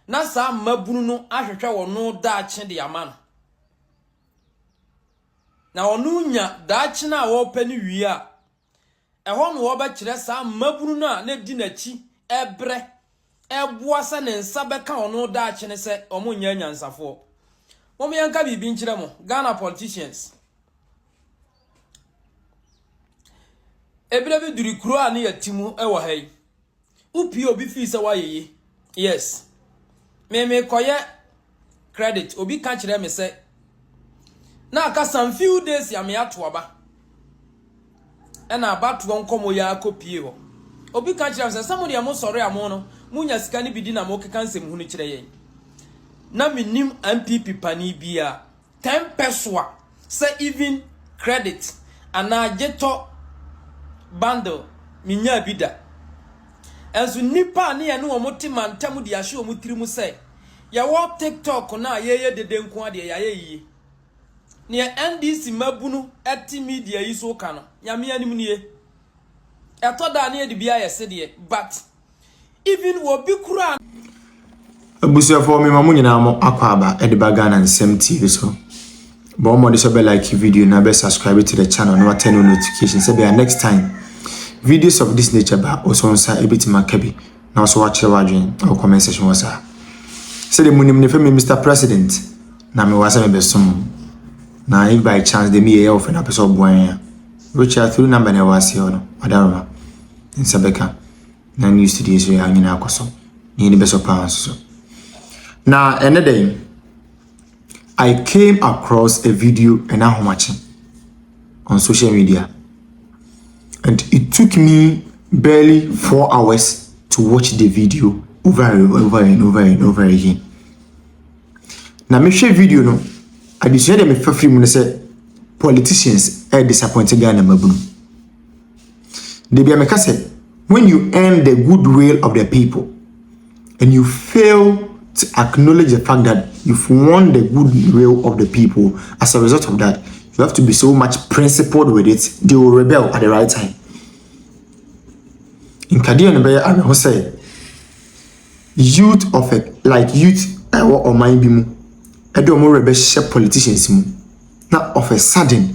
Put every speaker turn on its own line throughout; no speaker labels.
na saa mmabunu no ahwehwɛ wɔn daakye de ama no, na wɔnya daakye no a wɔrepɛ no wie a, ɛhɔ na wɔbɛkyerɛ saa mmabunu no a na edi n'akyi rebrɛ, reboa sɛ ne nsa bɛka wɔn daakye no sɛ wɔnyɛ anyansafoɔ. Mom yɛnka biribi nkyerɛ mo, Ghana politicians. Ebire bi duri kuro a ne yɛte mu wɔ ha yi. Wopie obi fie sɛ woayeye. Yes. Me mekɔyɛ credit. Obi ka kyerɛ me sɛ na aka some few days a meato aba. Ɛna abatoɔ nkɔmmɔ yi ara kɔpie hɔ. Obi ka kyerɛ me sɛ sɛ mo deɛ mosɔre a mo no monya sika no bi di na mokeka nsɛmhunu kyerɛ yɛn. Na mennim NPP pani biara. Tempɛ so a, sɛ even credit anaa gye tɔ bundle minyaa bi da. Nso nnipa a ne yɛne wɔn te mantam de ahyɛ wɔn tirim sɛ yɛwɔ TikTok no a yɛyɛ dede nko ara deɛ yɛayɛ yiye. Nea NDC mmabunu te media yi so ka no, Nyame anim nie. Ɛtɔ da a na yɛde bi ayɛ sedeɛ but Even wɔ bi kura.
Abusuafoɔ me ma mo nyinaa mo akɔ aba de ba Ghana Nsɛm TV so. Bɔ mmɔde sɛ bɛ like video na bɛ subscribe to the channel na turn on notification sɛ bia next time videos of this nature ba ɔsɔ nsa ebetumi aka bi na ɔsɔ wakyerɛ wadwen wɔ comment section wɔ saa. Sɛ de mo nim ne fɛ me Mr President na me wasa me bɛ som na if by chance de me yɛ yɛ ɔfɛ na pɛ sɛ ɔboa yɛn a which are through number na ɛwɔ aseɛ hɔ no ɔdaroma. nsa bɛka na new studio so yɛ anyina akɔ so na yɛn bɛsɔ paa nso so na ɛnɛ dɛ I came across a video and ahomakye on social media and it took me barely four hours to watch the video over and over and over and over again na mehwɛ video no adesua deɛ mefa firi mu no sɛ politicians ɛyɛ disappointed Ghana mmabunu. Dabi a meka sɛ, when you earn the good will of the people and you fail to acknowledge the fact that you've won the good will of the people as a result of that, you have to be so much principled with it, they will rebel at the right time. Nkadeɛ no bɛyɛ awerɛho sɛ youth of a, like youth ɛwɔ ɔman bi mu ɛde wɔn rebɛhyɛ politicians mu na of a sudden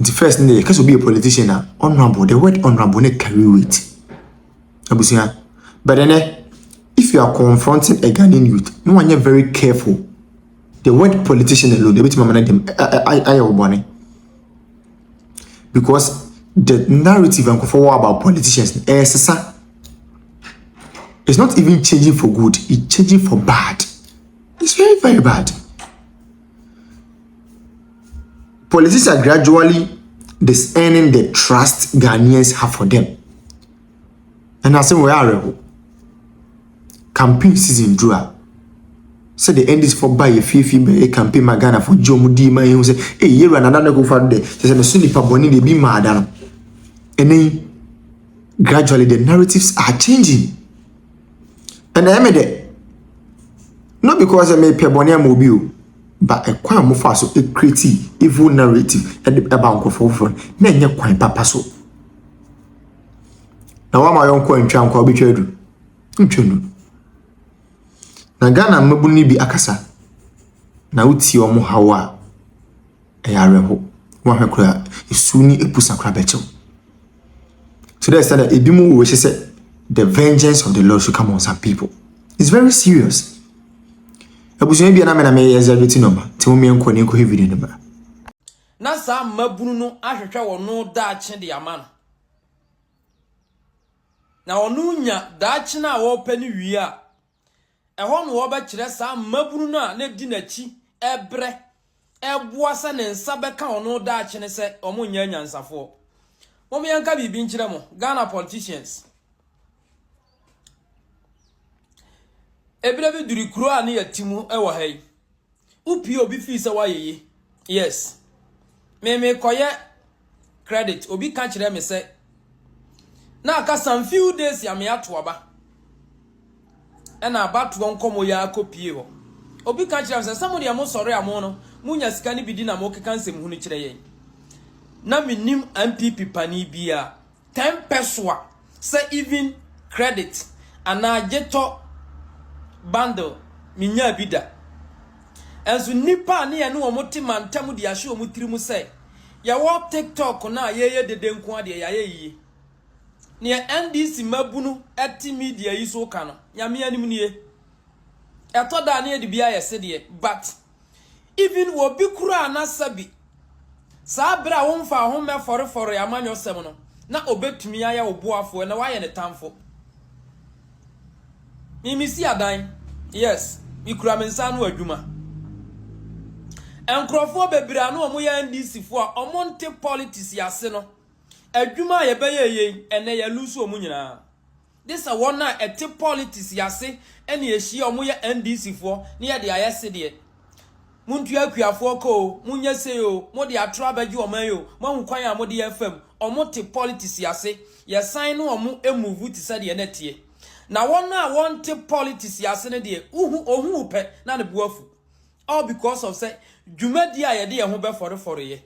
Nti first no deɛ yɛka sɛ obi yɛ politician a, honourable, the word honourable no carry weight. Abusua. But ɛnɛ, if you are confronting a Ghanaian youth, no one yɛ very careful. The word politician alone, ebetumi ama no dem ayɛ wo bɔne. Because the narrative nkurɔfoɔ wɔ about politicians no, ɛresesa. It's not even changing for good, it's changing for bad. It's very, very bad. Politics are gradually disearning the trust Ghanaians have for them. And I say, where are you? Campaign season, Drew. sɛ de ndc fo ba yɛ fiefie bɛyɛ campaign ma ghana fo gye wɔn di ma ehu sɛ eyi yɛ wura nana ne kofa do dɛ kyɛ sɛ ne so nipa bɔne de ebi maa da no ɛnɛ yi gradually the narratives are changing Ɛnna ɛme dɛ, not because sɛ mepɛ bɔne ama obi o, but kwan a wɔfaa so createe evil narrative de baa nkurɔfoɔ foforɔ no, na ɛnyɛ kwan papa so. Na woama yɔnko antwa nkwa wobɛtwa adu? Wontwa nnu. Na Ghana mmabunu no bi akasa, na wotie wɔn haw a, ɛyɛ awerɛhow. Woanhwɛ koraa a, esu ne apusa koraa bɛkyɛ wo. Kyerɛ sɛ dɛ ebinom wɔ hye sɛ, The vengeance of the Lord should come on some people. It's very serious. Abusua bi a na me na meyɛ executive no ma, nti mo mmea nkɔ ne nkɔhwɛ video no ma. Na
saa mmabunu no ahwehwɛ wɔn daakye de ama no. Na wɔnya daakye no a wɔrepɛ no wie a, Ɛhɔ na wɔbɛkyerɛ saa mmabunu no a na edi n'akyi rebrɛ, reboa sɛ ne nsa bɛka wɔn no daakye no sɛ wɔnyɛ anyansafoɔ. Mom yɛnka biribi nkyerɛ mo, Ghana politicians. Ebire bi duri kuro a ne yɛte mu wɔ ha yi. Wo pie obi fii sɛ wayɛ yi yes me me kɔyɛ credit obi ka kyerɛ me sɛ na aka some few days ya me ato aba ɛna abatoɔ nkɔmɔ yɛ akɔ pie hɔ obi ka kyerɛ me sɛ sɛ mo deɛ mo sɔre a mo no mo nya sika no bi di na mo keka nsɛm hunu kyerɛ yɛn na me nim MPP pani bia Ten pɛsoa sɛ even credit anaa gye tɔ bundle menyaa bi da. Nso nnipa a ne yɛne wɔn te mantam de ahyɛ wɔn tirim sɛ yɛwɔ TikTok no a yɛyɛ dede nko ara deɛ yɛayɛ yiye. Nea NDC mmabunu te media yi so ka no, Nyame anim nie. Ɛtɔ da a na yɛde bi ayɛ sedeɛ but. Even wɔ bi koraa na sɛbi saa bere a womfaa ho mmɛfɔrefɔree amanyɔsɛm no, na obetumi ayɛ wo boafo, ɛnɛ wayɛ ne tamfo. Me mesi adan, yes, me kura me nsa ano adwuma. Nkurɔfoɔ bebree a na wɔn yɛ NDC foɔ a wɔn nte politics ase no, adwuma a yɛbɛyɛ yei, ɛnɛ yɛ lose wɔn nyinaa. Gye sɛ wɔn a ɛte politics yi ase na ɛhyia a wɔyɛ NDC foɔ na yɛde ayɛ sedeɛ. Montua akuafoɔ ka oo, monyɛ sei oo, mode atorɔ abɛgye wɔn ayɛ oo, moahu kwan a mode ɛfa mu. Wɔn te politics yi ase. Yɛsan ne wɔn move te sɛdeɛ na ɛteɛ. Na wɔn a wɔnte politics yi ase no deɛ, wohu, ɔhu wo pɛ na ne bo afu. All because of sɛ dwumadie a yɛde yɛn ho bɛfɔrefɔreɛ.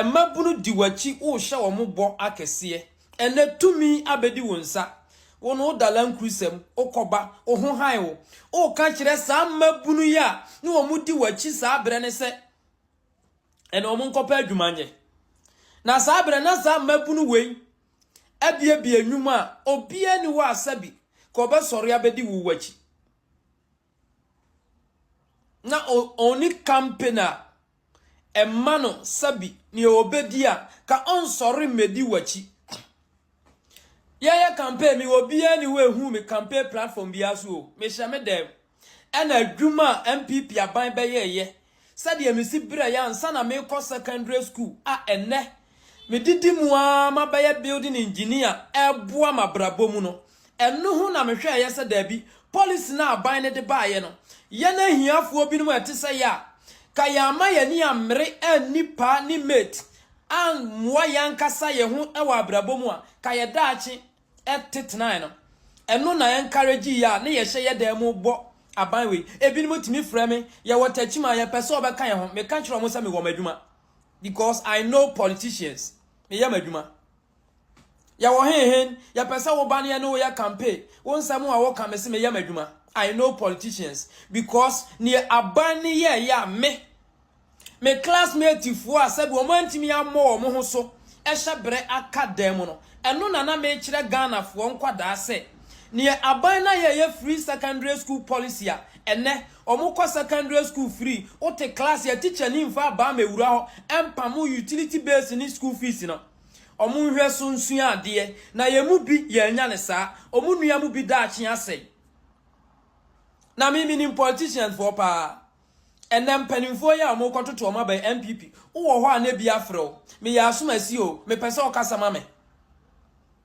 Mmabunu di w'akyi worehyɛ wɔn bɔ akɛseɛ. Ɛnnɛ tumi abɛdi wo nsa. Wo no woda lankurusa mu, wokɔba, wo ho han wo. Woreka kyerɛ saa mmabunu yi a ne wɔn di w'akyi saa berɛ no sɛ, ɛnna wɔn nkɔpɛ adwuma nyɛ. Na saa berɛ na saa mmabunu wei abiabia nnwuma a obiara ni hɔ a sɛbi ka ɔbɛsɔre abɛdi wo w'akyi. na ɔnni kampen a ɛma no sɛbi nea ɔbɛdi a, ka ɔnsɔre mmɛdi w'akyi. Yɛyɛ kampen me obiara nni hɔ ɛhu me kampen platform biara so o, mehyɛ me dan mu. Ɛna adwuma a NPP aban bɛyɛɛyɛ Sɛdeɛ mesi berɛeɛ ansa na merekɔ secondary school a ɛnnɛ medidi mu ara mabɛyɛ building engineer reboa m'abrabɔ mu no, ɛno ho na mehwɛeɛ sɛ daabi, policy no a aban no de baeɛ no, yɛn ahiafoɔ binom a ɛte sɛ yɛn a, ka yɛamma yɛn ani ammere anni paa ne mate, ammoa yɛn ankasa yɛn ho wɔ abrabɔ mu a, ka yɛn daakye. te tenae no, ɛno na encourage yɛ a ne yɛhyɛ yɛ dan mu bɔ aban wei. Ebinom tumi frɛ me, yɛwɔ takyim a yɛpɛ sɛ wɔbɛka yɛn ho. Meka kyerɛ wɔn sɛ mewɔ m'adwuma because I know politicians. Meyɛ m'adwuma. Yɛwɔ henhen, yɛpɛ sɛ woba ne yɛne wo yɛ campaign. Wo nsɛm a woka me se meyɛ m'adwuma. I know politicians because neɛ aban ne yɛɛyɛ a me Me classmatefoɔ a sɛbi wɔn antumi ammɔ wɔn ho so hyɛ berɛ aka dan mu no, ɛno na na mekyerɛ Ghanafoɔ nkwadaa sɛ, neɛ aban no ayɛ yɛ free secondary school policy a, ɛnnɛ wɔn kɔ secondary school free, wote class a tikyani mfa abaa mmɛwura hɔ mpamo utility bills ne school fees no. Wɔn nhwɛ so nsua adeɛ, na yɛn mu bi yɛannya no saa, wɔn nua mu bi daakye asɛe. Na me menim politicianfoɔ paa. Ɛnnɛ mpanimfoɔ yi a wɔrekɔtoto wɔn aba yi, NPP, wowɔ hɔ a na bi afrɛ wo, meyɛ asomasi o, mepɛ sɛ wokasa ma me.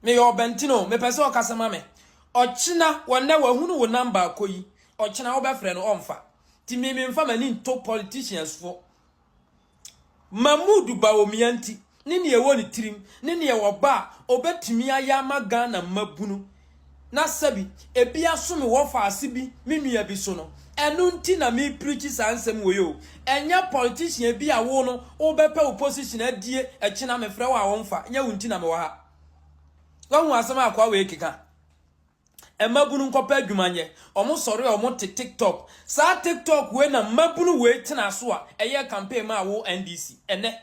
Meyɛ ɔbɛntene o, mepɛ sɛ wokasa ma me. Ɔkyena, wɔnnɛ wahunu wo number akɔ yi, ɔkyena wobɛfrɛ no ɔmfa. Nti me memfa m'ani nto politicians foɔ. Mahmood Bawumia nti ne nea ɛwɔ ne tirim ne nea ɔba a ɔbɛtumi ayɛ ama Ghana mmabunu na sɛbi ebi asome wɔ faase bi me nua bi so no, ɛno nti na mepreachi saa nsɛm wei o, ɛnyɛ politician bi a wo no wobɛpɛ wo position adie ɛkyena mefrɛ wo a womfa, nyɛ wo nti na mewɔ ha. Wahu asɛm a akoa wei keka? Mmabunu nkɔpɛ adwuma nyɛ. Ɔmo sɔre a ɔmo te tiktok. Saa tiktok wei na mmabunu wei tenaa so a ɛyɛɛ campaign maa wo NDC. Ɛnɛ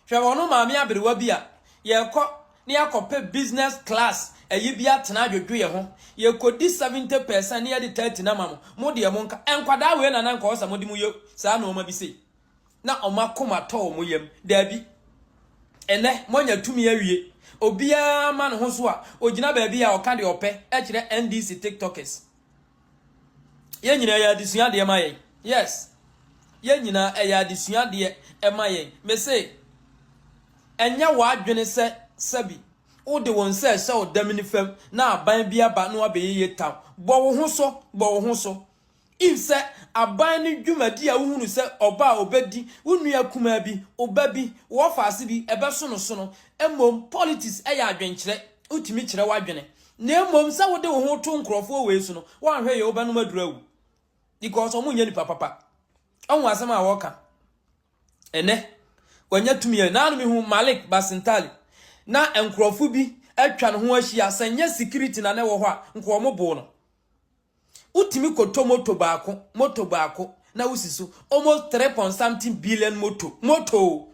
hwɛ wɔn no maame aberewa bi a yɛkɔ na yɛakɔpɛ business class ayi bi atena adwodwo yɛ ho. Yɛkɔdi seventy percent na yɛde thirty no ama mo. Mo deɛ monka. Nkwadaa wei na na nka ɔwɔ sɛ mode mo yɛ saa nnoɔma bi sei. na wɔn akoma atɔ wɔn yam. Daabi. Ɛnnɛ, moanya tumi awie. Obiara ma ne ho so a, ogyina baabi a ɔka deɛ ɔpɛ kyerɛ NDC tiktokers. Yɛn nyinaa ɛyɛ adesua adeɛ ma yɛn. Yes. Yɛn nyinaa ɛyɛ adesua adeɛ ma yɛn. Mese, ɛnyɛ w'adwene sɛ sɛbi wode wo nsa ɛhyɛ wo damini fam na aban bi aba na wabɛyeyɛ taw. Bɔ wo ho so, bɔ wo ho so. Eve sɛ aban no dwumadi a wohu no sɛ ɔba a obedi wo nua kumaa bi, wo ba bi, wo ɔfaase bi, ɛbɛso no so no. Mmom, politics yɛ adwenkyerɛ, wotumi kyerɛ w'adwene. Na mmom sɛ wode wo ho to nkurɔfoɔ wei so no, woanhwɛ yie wobɛnom aduro awu. Because wɔnyɛ nipa papa. Ɔho asɛm a wɔka. Ɛnɛ, wɔanya tumi a, naano mehu Malik Basintali, na nkurɔfoɔ bi atwa ne ho ahyia, sɛ nyɛ security na na ɛwɔ hɔ a, nka wɔboo no. Wotumi kɔtɔ moto baako, moto baako, na wosi so. Almost three point something billion moto, moto o!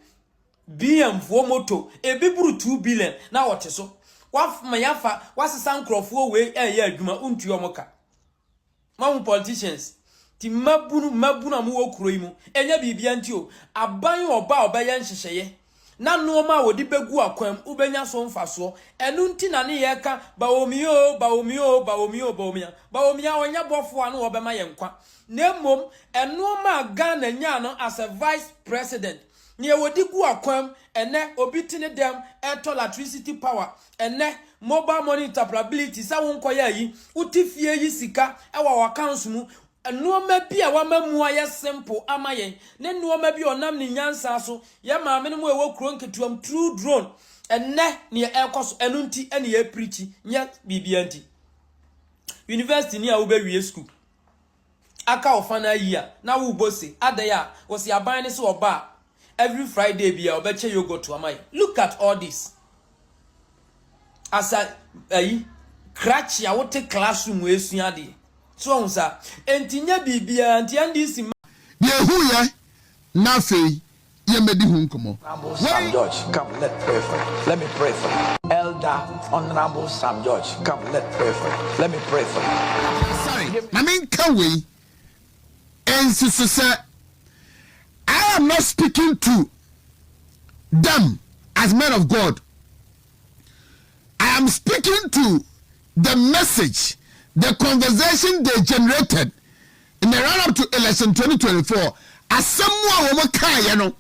BMfoɔ moto, ebi boro two billion na wɔte so. Wɔama yɛafa, wɔasesa nkurɔfoɔ wei reyɛ adwuma, wontua wɔn ka. Moahu politicians? Nti mmabunu, mmabunu a mowɔ kuro yi mu, ɛnyɛ biribiara nti o, aban a ɔba a ɔbɛyɛ nhyehyɛeɛ na nnoɔma a wɔde bɛgu akwan mu wobɛnya so mfasoɔ. Ɛno nti na ne yɛreka Bawomia oo, Bawomia oo, Bawomia oo, Bawomia. Bawomia ɔnyɛ bɔfoɔ a ne ɔbɛma yɛn nkwa, na mmom nnoɔma a Ghana nyaa no as a vice president, deɛ wɔde gu akwan mu ɛnnɛ, obi te ne dɛm ɛretɔ latricity power, ɛnnɛ mobile money interoperability, sɛ wonkɔyɛ ayi, wote fie yi sika wɔ w'accounts mu, Nnoɔma bi a wama mu ayɛ simple ama yɛn ne nnoɔma bi a ɔnam ne nyansa so yɛ maamenom a ɛwɔ kuro nketewamu through drone ɛnnɛ neɛ ɛrekɔ so ɛno nti ɛne yɛ preachi nyɛ biribiara nti university ni a wobɛ wie school aka wo final year na wo bɔ se adɛn a wɔsi aban ne se ɔba a every Friday bia ɔbɛkyɛ yogurt ama yɛ look at all this. as a ayi krakye a wote classroom esua adeɛ so ɔho saa enti nyɛ biribiara nti NDC ma Yɛhuiɛ
na afei yɛmmɛdi ho nkɔmmɔ. Honourable Sam Wei. George,
come let pray for you, let me pray for you. Elder Honourable Sam George, come let pray for you, let me pray for you. Sorry, ma menka
wei. nsisi sɛ I am not speaking to them as men of God. I am speaking to the message, the conversation they generated in the run up to election 2024. Asɛm mu a wɔn kaeɛ no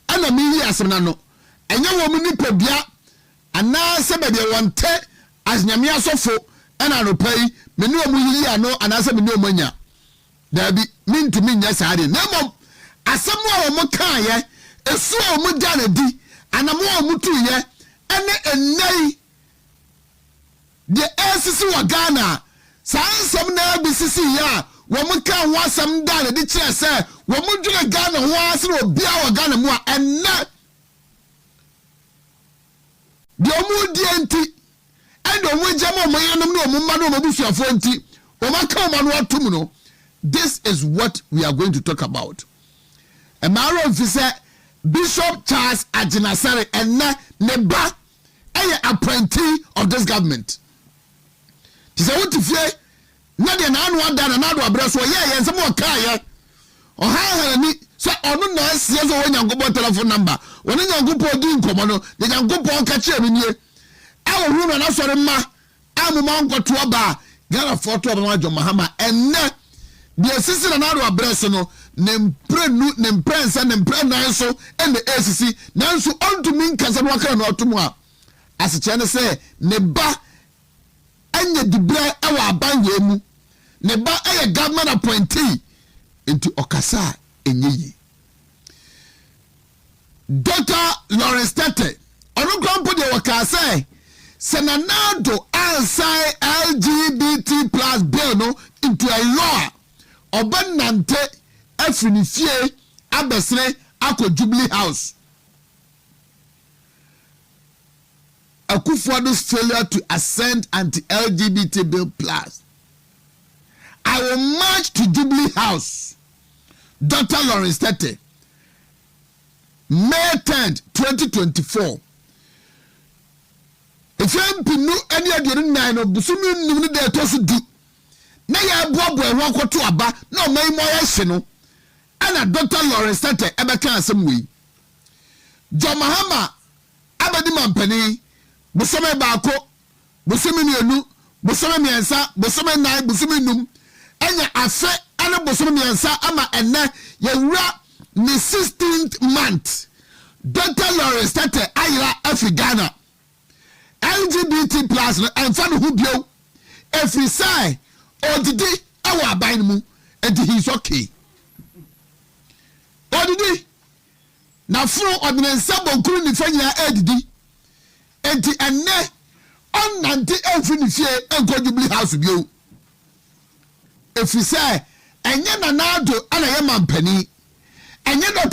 ɛna meyi asɛm no ano. Ɛnyɛ wɔn nipadua Anaasɛ baabi a wɔnte ase Nyame asɔfo na anɔpa yi me ne wɔn yiyi ano anaasɛ me ne wɔn anya? Daabi, merentumi nyɛ saa ade. Na mmom asɛm a wɔkaeɛ, su a wɔdaa no adi, anammɔn a wɔtuiɛ, ne nnɛ yi deɛ ɛresisi wɔ Ghana, saa nsɛm no ara bi sisiiɛ a wɔkaa ho asɛm daa no adi kyerɛɛ sɛ wɔdwene Ghana ho ara sene obiara wɔ Ghana mu a ɛnnɛ Deɛ wɔredie nti, ɛne deɛ wɔregyam wɔn yerenom ne wɔn mma ne wɔn abusuafoɔ nti, wɔaka wɔn ano atom no, this is what we are going to talk about. Ɛmaa awerɛ mfi sɛ Bishop Charles Agyinasare, ɛnnɛ ne ba, yɛ appointee of this government. Te sɛ wote fie Nna deɛ n'ano ada na n'ado abrɛ so ɔyɛɛyɛ nsɛm a ɔkaeɛ. Ɔhaahaa n'ani sɛ ɔno na asie sɛ ɔwɔ Nyankopɔn tɛlɛfon namba. Ɔne Nyankopɔn dii nkɔmmɔ no, deɛ Nyankopɔn ka kyerɛɛ no nie, A wɔhunu no a n'asɔre mma a momma ɔnkɔto aba a Ghanafoɔ to aba ma John Mahama ɛnnɛ. Deɛ ɛsisi na n'ado abrɛ so no, ne mprenu, ne mprɛnsa, ne mprɛnan so na ɛresisi. Nanso ɔntumi nka sɛ na wɔaka n'ano atom a asekyerɛ ne sɛ ne ba anya diberɛ wɔ aban wei mu, ne ba yɛ government appointee nti ɔkasa a ɛnyɛ yie. Doctor Lawrence Tetteh, ɔno koraa mpo deɛ ɔkaa sɛ, sɛ Nana Addo ansan LGBT plus bill no into a law a, ɔbɛnante afiri ne fie abɛsene akɔ Jubilee House. Akufo-Addo's failure to assent anti-LGBT bill plus I will march to Jubilee House, Doctor Lawrence Tetteh May tenth, twenty twenty four, Mfe mpenu ne aduonu nnan no bosome nnum no da a ɛtɔ so du na yɛreboaboa yɛn ho akɔto aba na ɔman yi mu ayɛ hye no ɛna Doctor Lawrence Tetteh ɛbɛka asɛm wei. John Mahama Abɛdi mampanin, bosome baako, bosome mmienu, bosome mmiɛnsa, bosome nnan, bosome nnum, anya afe ne bosome mmiɛnsa ama ɛnnɛ yɛwura ne sixteenth month. Doctor Lawrence Tetteh ayera afi Ghana. LGBT plus no ɛmfa ne ho bio ɛfiri sɛ ɔdidi wɔ aban no mu, ɛnti he is okay. Ɔdidi. N'afono, ɔde ne nsa bonkunu nifa nyinaa redidi. Enti ɛnnɛ, ɔnnante mfiri ne fie nkɔ Jubilee House bio, ɛfiri sɛ ɛnyɛ Nana Addo na ɛyɛ mampanin, ɛnyɛ Dɔkta.